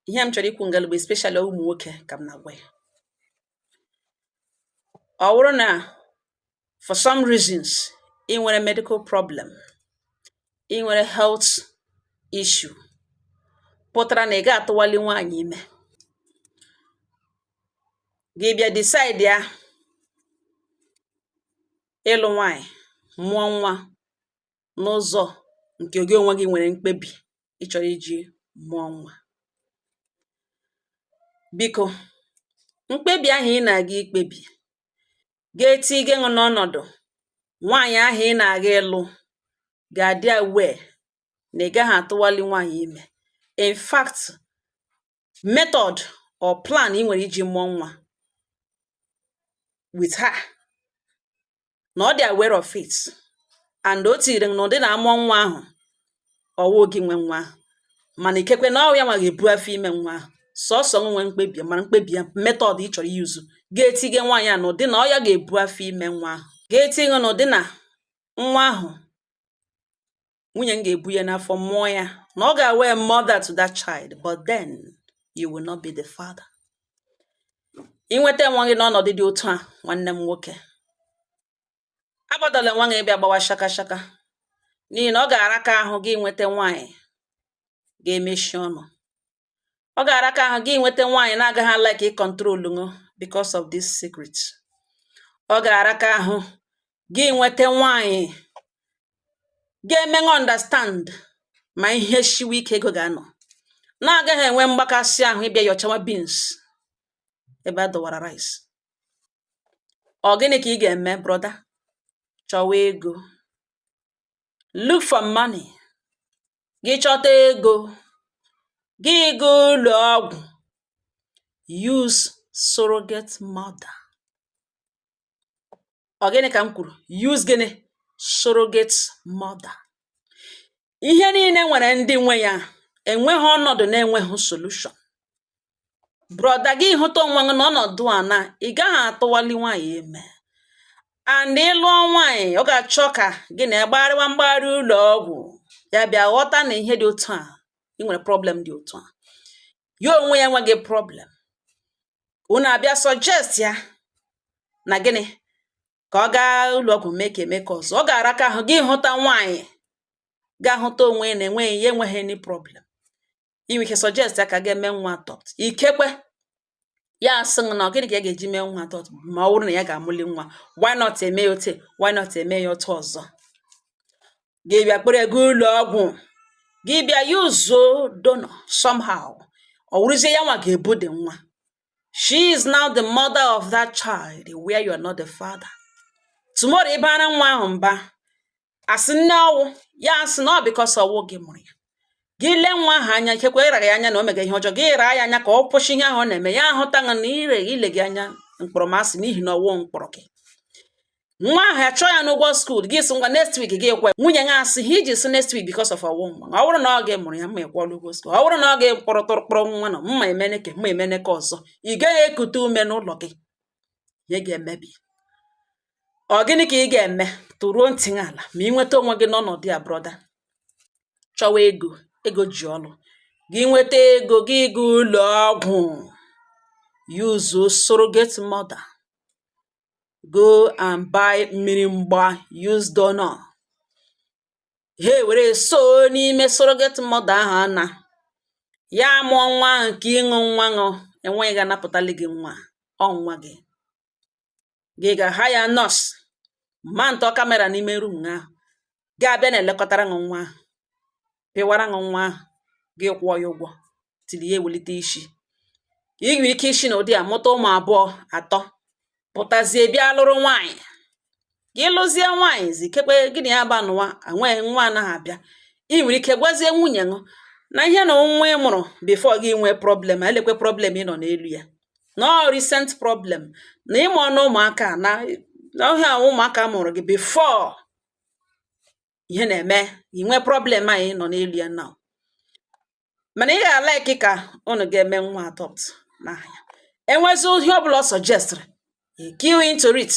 ihe m chọrọ ikwu ngalụgba especially ụmụ nwoke ka m na-agwa ya ọ wụrụ na for some reasons ị nwere medical problem ị nwere health issue pụtara na ị ga atụwali nwaanyị ime gị bịa decide ya ịlụ nwaanyị mụọ nwa n'ụzọ nke gị onwe gị nwere mkpebi ị chọrọ iji mụọ nwa biko mkpebi ahụ ị na-aga ikpebi ga-eti gị ṅụ n'ọnọdụ nwaanyị ahụ ị na-aga ịlụ ga-adị aware na ị gaghị atụwali nwaanyị ime in fact method or plan ị nwere iji mụọ nwa with her na ọ dị aware of it and o tiri na ụdị na a mụọ nwa ahụ ọ wụ gị nwe nwa ahụ mana ikekwe na ọ ya nwa ga-ebu afọ ime nwa ahụ sọsọ nwe mkpebi a mara mkpebi a method ị chọrọ use ga-etinye nwaanyị a na ụdị na ọ ya ga-ebu afọ ime nwa ahụ ga-eti gị na ụdị na nwa ahụ nwunye m ga-ebu ya n'afọ mụọ ya na ọ ga-awụ a mother to that child but then you will not be the father i nweta onwe gị n'ọnọdụ dị otu a nwanne m nwoke agbadọla nwa gị bịa gbawa shaka shaka n'ihi na ọ ga-araka ahụ gị nweta nwaanyị ga-emechi ọnụ ọ ga-araka ahụ gị nweta nwaanyị na-agaghị like ị control ṅụ because of this secret ọ ga-araka ahụ gị nweta nwaanyị ga-emenwu understand ma ihe shiwe ike ego ga-anọ na-agaghị enwe mgbakasị ahụ ị bịa yọchawa beans ebe a dọwara rice ọ gịnị ka ị ga-eme brother chọwa ego look for money gị chọta ego gị gaa ụlọ ọgwụ use surrogate mother ọ gịnị ka m kwuru use gịnị surrogate mother ihe niile nwere ndị nwe ya enweghị ọnọdụ na-enweghị solution brother gị hụta onwe gị n'ọnọdụ a na ị gaghị atụwali nwaanyị ime and ị lụọ nwaanyị ọ ga-achọ ka gị na ya gbagharịwa mgbagharị ụlọ ọgwụ ya bịa ghọta na ihe dị otu a ị nwere problem dị otu a ya onwe ya enweghị problem unu abịa suggest ya na gịnị ka ọ gaa ụlọ ọgwụ mee ka a mee ka ọzọ ọ ga-araka ahụ gị hụta nwaanyị ga-ahụta onwe ya na enweghị ya enweghị any problem i nwe ike suggest ya ka a ga-eme nwa adopt ikekwe ya asị na ọ gịnị ka ya ga-eji mee nwa adopt ma ọ bụrụ na ya ga-amụli nwa why not eme ya otu why not eme ya otu ọzọ gị bịa kpere ga ụlọ ọgwụ gị bịa yuzuo donor somehow ọ wụrụzie ya nwa ga-ebu dị nwa she is now the mother of that child where you are not the father tomorrow ị baara nwa ahụ mba asị nne ọwụ ya asị na ọ because ọwụ gị mụrụ ya gị lee nwa ahụ anya ikekwe ịrara ya anya na o mega ihe ọjọọ gị ịra ya anya ka ọ kwụsị ihe ahụ ọ na-eme ya ahụta na ire ile gị anya mkpọrọmasị n'ihi na ọwụ mkpụrụ gị nwa ahụ achụọ ya n'ụgwọ school gị sị ngwa next week gị ekwe nwunye ya asị ihe i ji sị next week because of ọwụ nwa ọ bụrụ na ọ gị mụrụ ya ma ị kwụọla ụgwọ school ọ bụrụ na ọ ga-ekpọrọ tụrụkpọrọ nwa na ma emene nke ma emene nke ọzọ ị gaghị ekute ume n'ụlọ gị ihe ga-emebi ọ gịnị ka ị ga-eme tụruo ntị n'ala ma ị nweta onwe gị n'ọnọdụ a brother chọwa ego ego ji ọrụ gị nweta ego gị ga ụlọ ọgwụ use surrogate mother go and buy mmiri mgba use donor ha ewere suo n'ime surrogate mother ahụ a na ya amụọ nwa ahụ ka ịṅụ nwa ṅụ enweghị ga-anapụtali gị nwa ọ nwa gị gị ga hire nurse mountụọ camera n'ime room ahụ ga-abịa na-elekọtara ṅụ nwa ahụ pịwara ṅụ nwa ahụ gị kwụọ ya ụgwọ till ya ewelite isi i nwere ike isi n'ụdị a mụta ụmụ abụọ atọ pụtazie bịa lụrụ nwaanyị gị lụzie nwaanyị ikekwe gị na ya gba nụwa enweghị nwa anaghị abịa ị nwere ike gwazie nwunye ṅụ na i nwena nwa ị mụrụ before gị nwee problem lekwe problem ị nọ n'elu ya na ọ recent problem na ị mụọna ụmụaka na ọhịa ahụ ụmụaka mụrụ gị before ihe na-eme i nwee problem a ị nọ n'elu ya now mana ị ga-alike ka unu ga-eme nwa adopt n'ahịa e nwezie ihe ọ bụla ọ suggestịrị key into it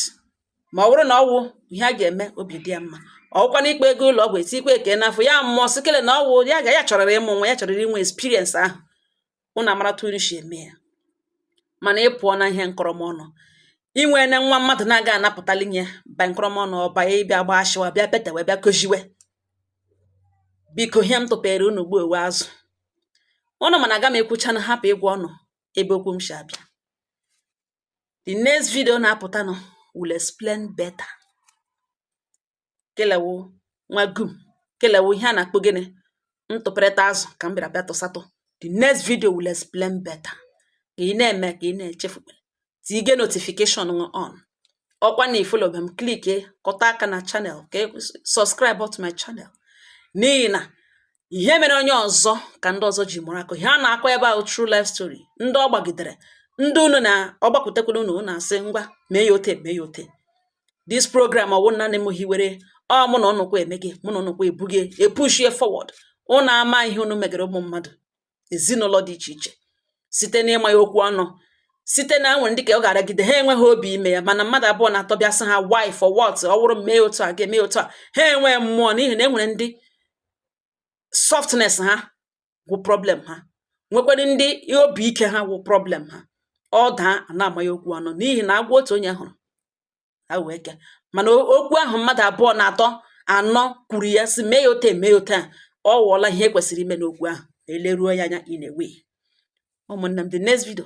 ma ọ bụrụ na ọwụ ihe a ga-eme obi dị ya mma ọwụkwana ikpe ga ụlọ ọgwụ etikwa egg n'afọ ya mụọ sị kele na ọwụ ya ga ya chọrọrọ ịmụ nwa ya chọrọrọ inwe experience ahụ unu amara otu unu si eme ya mana ị pụọna ihe nkọrọmọnụ i nwena nwa mmadụ na-aga anapụtali nye ba nkọrọmọnụ ọba ya ị bịa gbaa ashiwa bịa petewe bịa kojiwe Biko ihe m tụpere unu gbuo ewu azụ. Unu ma na aga m ekwuchanụ hapụ ịgwa unu ebe okwu m si abịa. The next video na-apụtanụ will explain better. Kelewu nwa gum, kelewu ihe a na-akpọ gịnị? Ntụpịrịta azụ ka m bịara bịa tụsatụ. The next video will explain better. Ka ị na-eme ka ị na-echefu. tige notification ṅụ on ọkwa na i followbe m click kọta aka na channel ka e, subscribe to my channel n'ihi na ihe mere onye ọzọ ka ndị ọzọ ji mụrụ akọ ihe a na-akọ ebe a wụ true life story ndị ọ gbagidere ndị unu na ọ gbakwutekwala unu na-asị ngwa mee ya ote mee ya ote this program ọ wụ nanị m hiwere ọ mụ na ụnụkwa eme gị mụ na ụnụkwa ebu gị epushie forward unu ama ihe unu megere ụmụ mmadụ ezinụlọ dị iche iche site n'ịma ya okwu ọnụ site na e nwere ndị ka ọ ga-aragide ha enweghị obi ime ya mana mmadụ abụọ na atọ bịa sị ha why for what ọ wụrụ mee otu a ga-eme otu a ha enwee mmụọ n'ihi na e nwere ndị softness ha wụ problem ha nwekwara ndị obi ike ha wụ problem ha ọ daa a na-ama ya okwu ọnụ n'ihi na agwọ otu onye hụrụ awụ eke mana okwu ahụ mmadụ abụọ na atọ anọ kwuru ya sị mee ya ote e mee ya ote a ọ wụọla ihe e kwesịrị ime n'okwu ahụ e leruo ya anya anyway ụmụnne m the next video